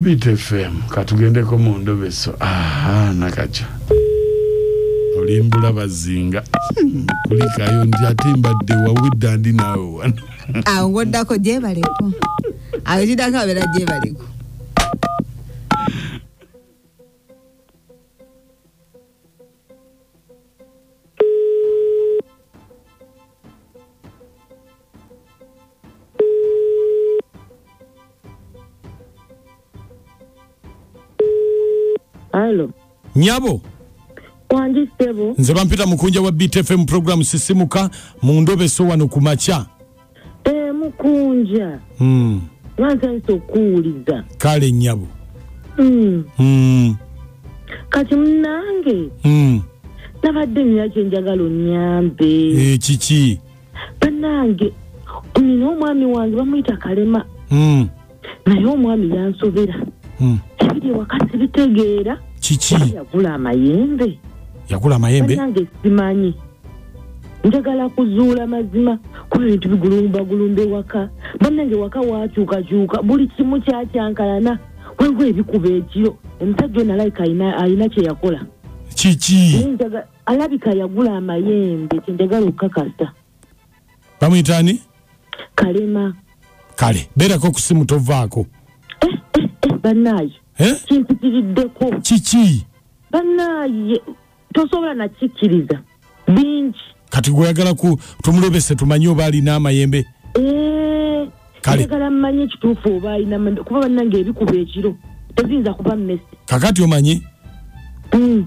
bitfm katugendeko mu ndobeso aha nakaca olimbula bazinga hmm, kulikayo nti ate mbadde wawidda ndi naawe wano awo ngoddako gyebaleko awo kidako abeera gyebaleko Halo. nyabo Wangi sebo. nze bampita mukunja wa btfm program sisimuka mu ndobeso wano ku makya Eh, mukunja Mm. lwansanyisa okukuwuliza kale nyabo Mm. Mm, kati munange mm. nabadde nina kyenjagala onyambe Eh, kiki banange nina omwami wange bamuyita kalema Mm. naye omwami yansobera Hmm. ebiri ewaka sibitegeera kiki yagula amayembe yagula amayembe nange simanyi njagala kuzuula mazima kuba ebintu bigulumbagulumba ewaka bannange waka wakyukakyuka buli kimu kyakyankalana waliwo ebikuba ekiro omusajja ono alabika alina- alina kyeyakola kiki Naye njaga- alabika yagula amayembe kyenjagala okukakasa bamuyita ani kalema kale beerako ku simu tovaako eh, eh, eh, bannaaye eh? kimpitiriddeko kiki bannaaye tosobola nakikkiriza bingi kati gweyagala ku tumulobese tumanye oba alina amayembe eh, kalegala mmanye ekituufu oba alina kuba bannange ebikuba ekiro teziyinza kuba mmesi kakati omanyi mm.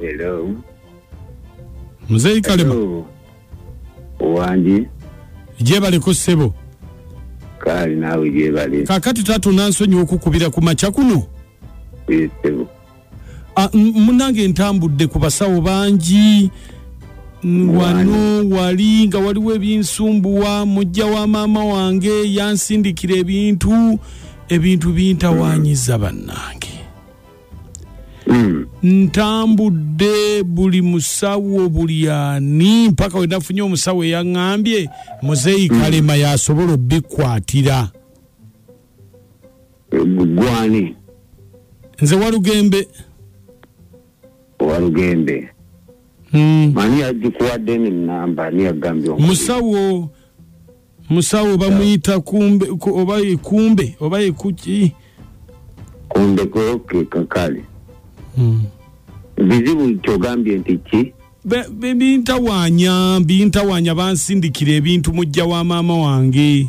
Hello. Mzee Kalema. Hello. Wangi Jebale ko sebo. kali naawe gyebali Kakati taata onansonyiwa okukubira ku makya kuno. kuyisebo Ah, munange ntambudde ku basawo bangi wano wali nga waliwo ebinsumbuwa mujja wa maama wange yansindikira ebintu ebintu bintawanyiza bannange hmm. ntambudde buli musawo buli ani mpaka wenafunye omusawo eyaŋambye muzeeyi hmm. kalema yasobola obikwatira gwani nze walugembe walugembe hmm. mani yagikuwadde nenamba niyagambye musawo musawo bamuyita kumbe oba ekumbe oba ekuki kumbe koke kakale hmm. bizibu kyogambye nti ki bintawanya bintawanya bansindikira ebintu mujja wa maama wange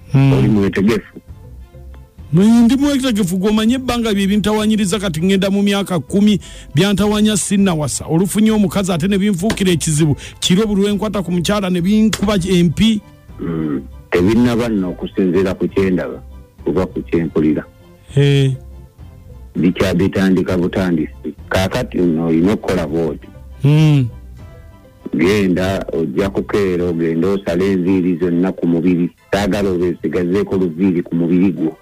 hmm. oli mwetegefu ndi mwetegefu gwomanye ebbanga bye bintawanyiriza kati ŋŋenda mu myaka kkumi byantawanya sinnawasa olufunye omukazi ate ne binfuukira ekizibu kiro buli lwenkwata ku mukyala ne binkuba empi hmm. tebinnaba nno okusinziira ku kyendaba kuba ku kyempulira bikyabitandika butandisi kakati nno olina okukola bwoti hmm. genda ojja kukeera ogenda osala enviiri zonna ku mubiri saagala obesigazeeko luviiri ku mubiri gwo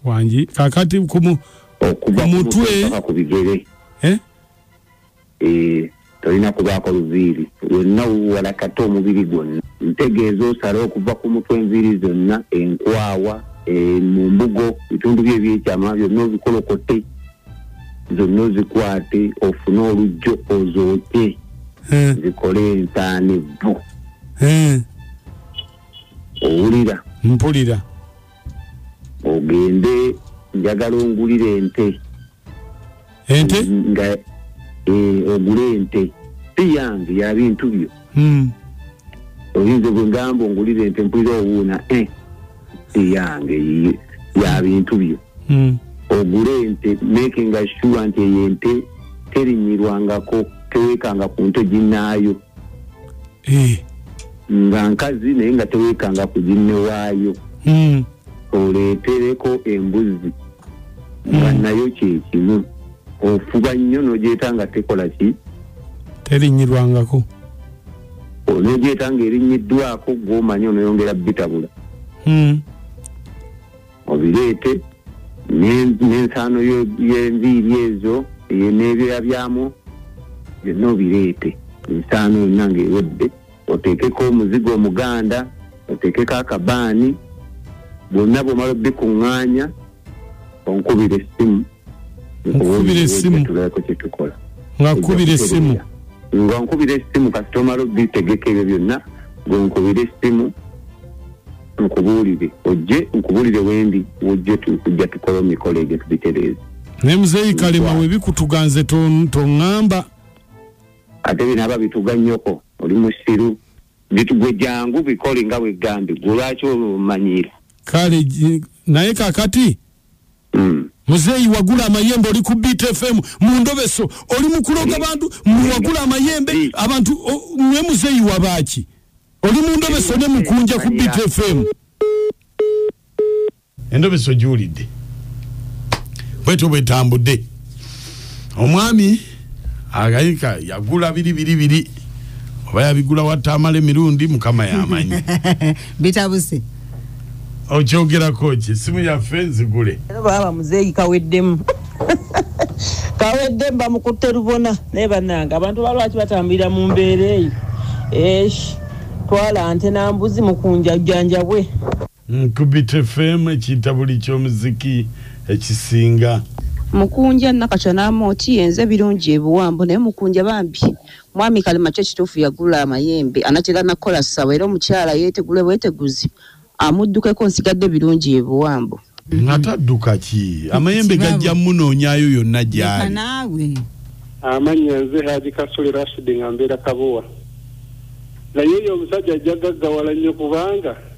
wangi kakati kumu okuva kumutwe ku bigere eh? eh, tolina kubaako luviiri yonna wuwala kate omubiri gwonna ntegeeza osala okuva ku mutwe enviiri zonna enkwawa eh, mu mbugo bitundu byo ebyekyama byonna obikolokote zonna ozikwate ofune olujjo ozooke Eh, zikole entaana evvu eh, owulira mpulira ogende njagala ongulira ente ente nga eh, ogule ente si yange ya bintu byo hmm. oyinza gwe ngamba ongulira ente mpulira owuuna eh, eyange ya bintu byo hmm. ogule ente makinga sure nti eyo ente terinyirwangako tewekanga ku nte ginnaayo eh. nga nkazi naye nga tewekanga ku ginnewaayo hmm. oleetereko embuzzi nga hmm. nayo kyekimu ofuba nnyo nogyeta nga tekola ki terinyirwangako onogyeta nga erinyiddwako gwomanyi onoyongera bitabula hmm. obireete n'ensaano y'enviiri ezo n'ebyoya byamu byonna obireete ensaano yonna ng'ewedde oteekeko omuzigo omuganda oteekeko akabaani bwonna bwomala obikuŋŋaanya onkubira essimu nkubira essimu tulabeko kyetukola nga nkubira essimu nga nkubira essimu kasita omala obitegeka ebyo byonna gwenkubira essimu nkubuulire ojje nkubuulire wendi wojje tujja tukola omikolo egyo tubitereeza naye muzeeyi kalema webikutuganze toŋŋamba to ate bino aba bituga nyoko oli musiru bitugwe jangu bikole nga wegambi gwe lwaki olwomanyiira kale naye kakati mm. muzeeyi wagula amayembe oli ku beat fm mu ndobeso oli mukuloga bantu muwagula amayembe abantu mwe muzeeyi wabaaki oli mu ndobeso ne mukunja ku beat fm endobesa ogiwulidde bwetyo bwetambudde omwami agayika yagula biri biri biri oba yabigula watamala emirundi mukama yamanyi bitabuse okyogerako ki simu yaffe nzigule baba muzeeyi kaweddemu kaweddemu bamukutte lubona naye banange abantu balwaki batambulira mu mbeera eyo esh twala nte nambuzi mukunja jjanjabwe Nkubit FM ekiyita buli ky'omuziki ekisinga. Mukunja nakatya namoti yenze birungi ebiwambo naye mukunja bambi mwami kalema kyo kituufu yagula amayembe anatera nakola sawa era omukyala yetegule bweteguzi amuddukeko nsigadde birungi ebiwambo ngate adduka ki amayembe gajja munoonyayo yonna gyali naawe amannya nze haji kasule rashidi nga mbeera kabowa naye oyo omusajja ajja gaggawala nnyo kubanga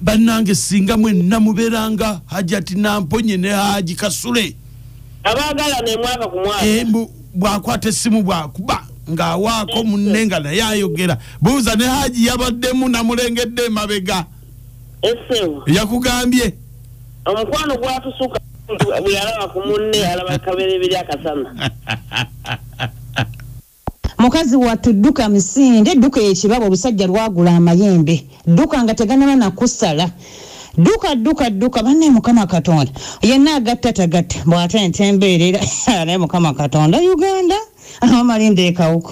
bannange singa mwenna mubeeranga hajati namponye ne haji kasule eh, bwakwata essimu bwakuba ng'awaako munne nga naye ayogera buuza ne haji yabaddemu namulengedde emabega yakugambye omukwano gwatusuka bweyalaba ku munne alaba kabereberi akasana Mukazi wattu dduka misinde, dduka ekibabu olusajja lwagula amayembe, dduka nga teganaba nakusala, dduka dduka dduka banne mukama katonda yenna agatta tagatta bwate nte mbeerera naye mukama katonda Uganda amamalinda ekawuka.